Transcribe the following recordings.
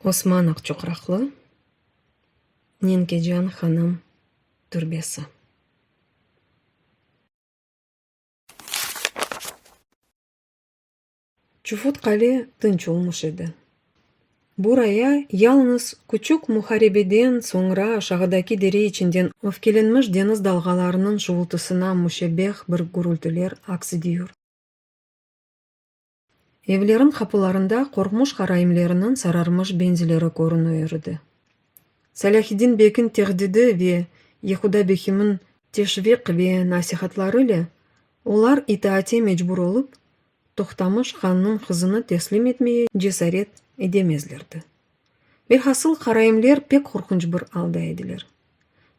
Osman Aqçuqraqlı, Nenkecan hanım türbesi. Çufut qale tınç olmuş edi. Buraya yalnız küçük muharebeden soñra aşağıdaki dere içinden öfkelenmiş deñiz dalğalarınıñ şuvultısına müşebbeh bir gürültiler aks ediyor. Evleriñ qapularında qorqmuş qaraimleriniñ sararmış benzileri körünüir edi. Salâhiddin bekniñ tehdidi ve Yehuda bekimiñ teşviq ve nasihatları ile olar itaate mecbur olıp, Toqtamış hannıñ qızını teslim etmeye cesaret edemezlerdi. Velhasıl, qaraimler pek qorqunç bir alda ediler.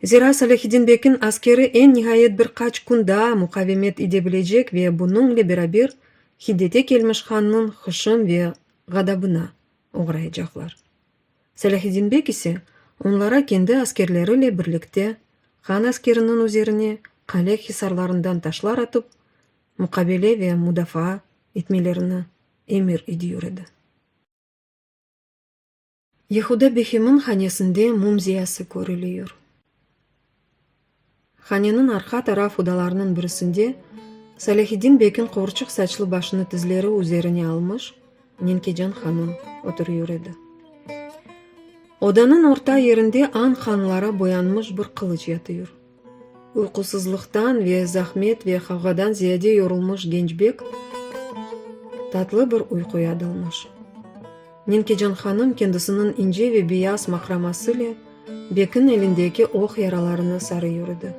Zira Salâhiddin bekiñ askeri eñ nihayet bir qaç kün daa muqavemet idebilecek ve bunıñle beraber hiddete kelmiş hannıñ hışım ve ğadabına oğrayacaqlar. Salâhiddin bek ise onlara kendi askerleriyle birlikte han askeriniñ üzerine qale hisarlarından taşlar atıp muqabele ve mudafaa etmelerini emir ediyor edi. Yehuda Behim'in hanesinde mum ziyası körülüyor. Haneniñ arqa taraf odalarınıñ birisinde Salâhiddin Bek'iñ quvurçıq saçlı başını tizleri üzerine almış Nenkecan hanım oturuyor edi. Odanıñ orta yerinde añ qanlara boyanmış bir qılıç yatıyor. Uyqusızlıqtan ve zahmet ve qavğadan ziyade yorulmış Gençbek tatlı bir uyquya dalmış. Nenkecan hanım kendisiniñ ince ve beyaz maqramasıyle Bekiñ elindeki oq yaralarına sarı yürüdi.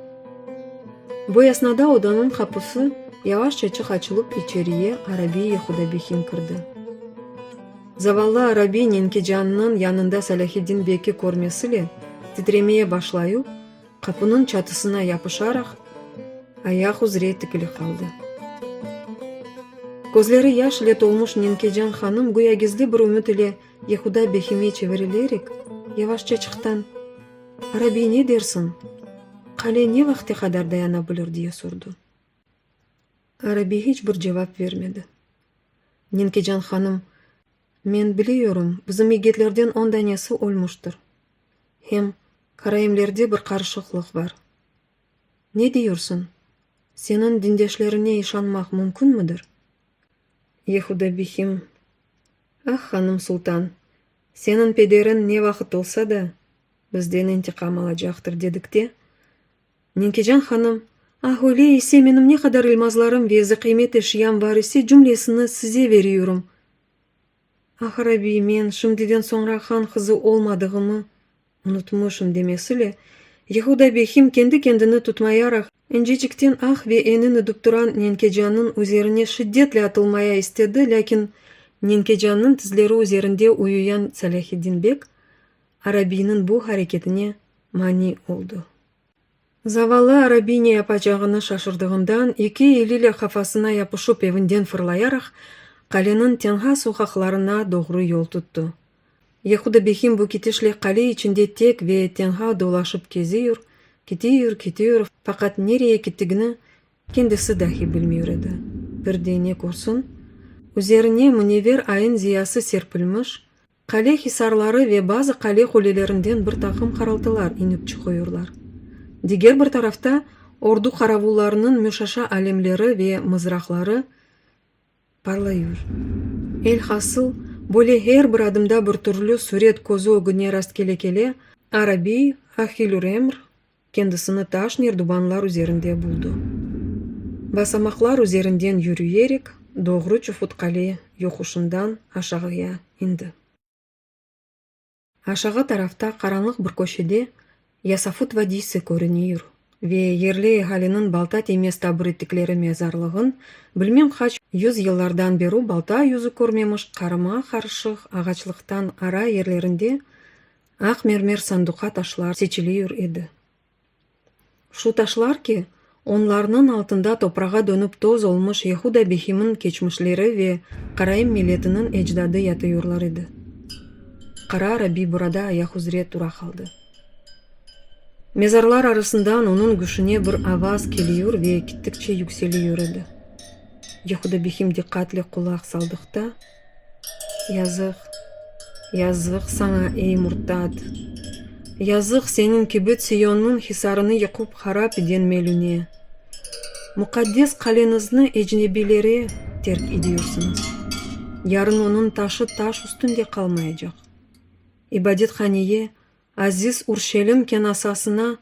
Bu esnada odanıñ qapusı yavaşçaçıq açılıp içeriye Arabiy-i Hudabihin kirdi. Zavallı Arabiy Nenkecannıñ yanında Salâhiddin Beki körmesiyle titremeye başlayup, Qapınıñ çatısına yapışaraq, ayaq üzre tikili qaldı. Közleri yaş ile tolmuş Nenkecan hanım güya gizli bir ümüt ile Yehuda Behime çevirilerek, yavaşça çıqtan, Arabiy, ne dersiñ, qale ne vaqte qadar dayana bilir? diye sordu. Arabiy hiç bir cevap vermedi. Nenkecan hanım Men biliyorum, bizim yigitlerden on danesi ölmüştir. Hem karaimlerde bir qarışıqlıq bar. Ne diyorsun, seniñ dindeşlerine işanmaq mümkünmidir? Yehuda Bihim, Ah, hanım sultan, seniñ pederiñ ne vaqıt olsa da, bizden intiqam alacaqtır, dedikte, Ninkican hanım, Ah, öyle ise, menim ne qadar ilmazlarım ve zıqıymet eşyam bar ise, cümlesini size veriyorum. Ah, Rabbiy, men, şimdiden soñra han qızı olmadığımı unutmışım, demesile, Yehuda Behim kendi-kendini tutmayaraq, incecikten ah ve enin edip turan Ninkecannıñ üzerine şiddetle atılmaya istedi, lâkin Ninkecannıñ tizleri üzerinde uyuyan Salâhiddin beg A. Rabbiyniñ bu hareketine mani oldu. Zavallı Arabi ne yapacağını şaşırdığından, eki eliyle qafasına yapışıp evinden fırlayaraq, qaleniñ tenha soqaqlarına doğru yol tuttı. Yehuda Behim bu kitişle qale içinde tek ve tenha dolaşıp keziyor, kitiyor, kitiyor, faqat nereye kittigini kendisi dahi bilmiyor edi. Bir de ne körsün? Üzerine münever ayıñ ziyası serpilmiş, Qale hisarları ve bazı qale qulelerinden bir taqım qaraltılar inip çıqıyorlar. Diger bir tarafta, ordu qaravullarınıñ müşaşa alemleri ve mızraqları parlayır. Elhasıl, böyle her bir adımda bir türlü süret közü ögüne rastkele-kele, Arabiy, Ahilüremr, Kendisini taş nerdubanlar üzerinde buldı. Basamaqlar üzerinden yürüyerek doğru Çufutqale yoquşından aşağıya indi. Aşağı tarafta qaranlıq bir köşede Yasafut vadiysi körünir ve yerli ehaliniñ balta tiymez tabur ettikleri mezarlığın, bilmem qaç yüz yıllardan beru balta yüzü körmemiş qarıma-qarışıq ağaçlıqtan ara yerlerinde Aq mermer sanduqa taşlar seçiliyur edi. Şu taşlar ki, onlarnıñ altında toprağa dönip toz olmuş Yehuda Behimniñ keçmişleri ve Karaim milletiniñ ecdadı yatıyurlar edi. Qara Rabi burada ayaq üzre tura qaldı. Mezarlar arasından onıñ güşüne bir avaz keliyur ve kittikçe yükseliyur edi. Yehuda Behim diqqatle qulaq saldıqta, Yazıq, yazıq saña, ey murtad! Yazıq seniñ kibi Tsiyonnıñ hisarını yıqıp harap eden Melüne! Muqaddes qaleñizni ecnebiylere terk ediyorsiñiz. Yarın onıñ taşı taş üstünde qalmayacaq. İbadethaneye, aziz Urşelim kenasasına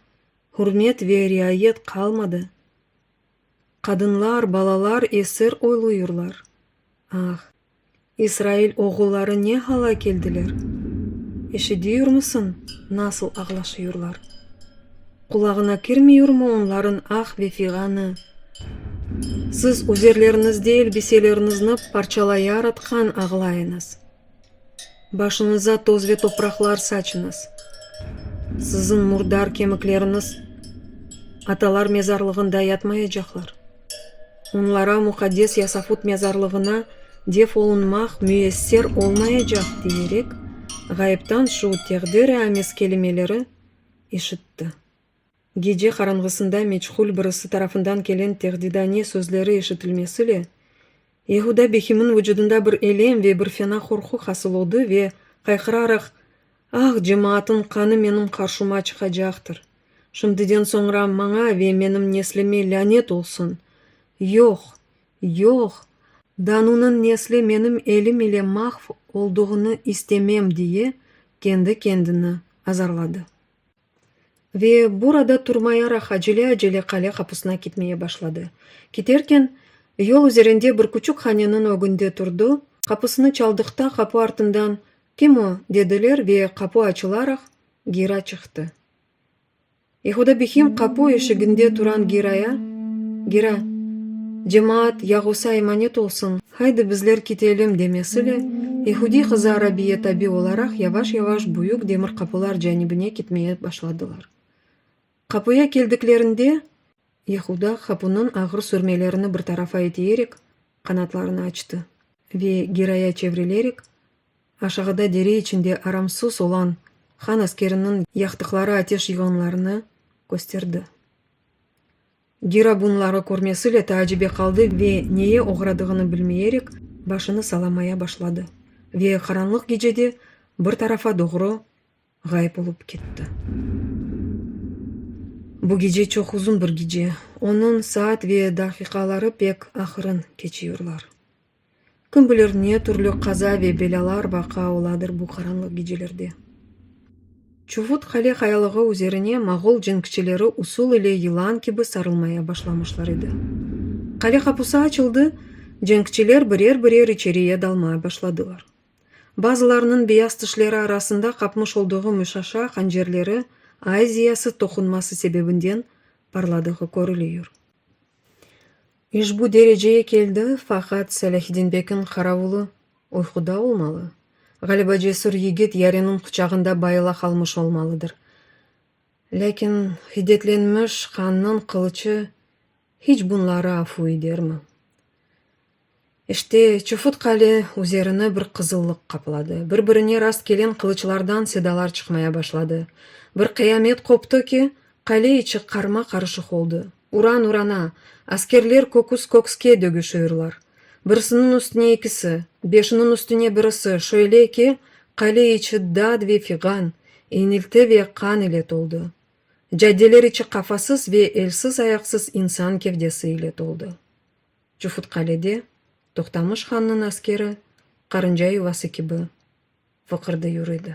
hürmet ve riayet qalmadı. Qadınlar, balalar esir oyluyırlar. Ah, İsrail oğulları ne hala keldiler! Eşidiyurmısıñ, nasıl ağlaşıyurlar? Qulağına kirmiyurmı onların ah ve fiğanı? Siz üzerleriñizde elbiseleriñizni parçalayar atqan ağlayıñız. Başıñıza toz ve topraqlar saçıñız. Siziñ murdar kemikleriñiz atalar mezarlığında yatmayacaqlar. Onlara muqaddes Yasafut mezarlığına def olunmaq müyesser olmayacaq, diyerek, ğaybdan şu teqdiri-amiz kelimeleri eşitti. Gece qaranğısında meçhul birisi tarafından kelen tehdidane sözleri eşitilmesiyle, Yehuda Behimniñ vucudında bir elem ve bir fena qorqu hasıl oldı ve, qayqıraraq, Ah, cemaatnıñ qanı menim qarşıma çıqacaqtır! Şimdiden soñra maña ve menim neslime lânet olsun! Yoq! Yoq! Danunıñ nesli menim elim ile mahv olduğını istemem! diye kendi-kendini azarladı. Ve burada turmayaraq acele-acele qale qapısına kitmeye başladı. Kiterken, yol üzerinde bir küçük haneniñ ögünde turdı, qapısını çaldıqta qapı artından, Kim o? dediler ve qapı açılaraq, Gira çıqtı. Yehuda Bihim qapı eşiginde turan Giraya, Gira, cemaat Yagusa emanet olsun! Haydi bizler kitelim demesiyle, Yehudiy qızı Arabiye tabi olaraq yavaş-yavaş büyük demir qapılar canibine kitmeye başladılar. Qapıya keldiklerinde, Yehuda hapunıñ ağır sürmelerini bir tarafa itiyerek, qanatlarını açtı ve giraya çevrilerek, aşağıda dere içinde aramsız olan han askeriniñ yaqtıqları ateş yığınlarını kösterdi. Gira bunları körmesile taacibe qaldı ve neye oğradığını bilmeyerek başını salamaya başladı ve qaranlıq gecede bir tarafa doğru ğayıp olıp ketti. Bu gece çoq uzun bir gece, onıñ saat ve daqiqaları pek ahırın keçiyorlar. Kim bilir, ne türlü qaza ve belâlar vaqa oladır bu qaranlıq gecelerde. Çuvut qale qayalığı üzerine moğol cenkçileri usul ile yılan kibi sarılmaya başlamışlar edi. Qale qapusı açıldı, cenkçiler birer-birer içeriye dalmaya başladılar. Bazılarnıñ beyaz tişleri arasında qapmış olduğu müşaşa hancerleri aiziyası toqunması sebebinden parladığı körülüyor. İşbu dereceye keldi, faqat Selâhiddin bekniñ qaravulı uyquda olmalı, ğaliba cesür yigit yariniñ quçağında bayıla qalmış olmalıdır. Lâkin hiddetlenmiş qannıñ qılıçı hiç bunları afu idermi? İşte, çufut qale üzerini bir qızıllıq qapladı, bir-birine rast kelen qılıçlardan sedalar çıqmaya başladı. Bir qıyamet qoptı ki, qale içi qarma-qarışıq oldı. Uran urana, askerler köküs-kökske dögüşüirlar. Birisiniñ üstüne ikisi, beşiniñ üstüne birisi, şöyle ki, qale içi dad ve fiğan, iñilti ve qan ile toldı. Caddeler içi qafasız ve elsiz-ayaqsız insan kevdesi ile toldı. Cufutqalede Toqtamış hannıñ askeri qarınca yuvası kibi vıqırdı yüridi.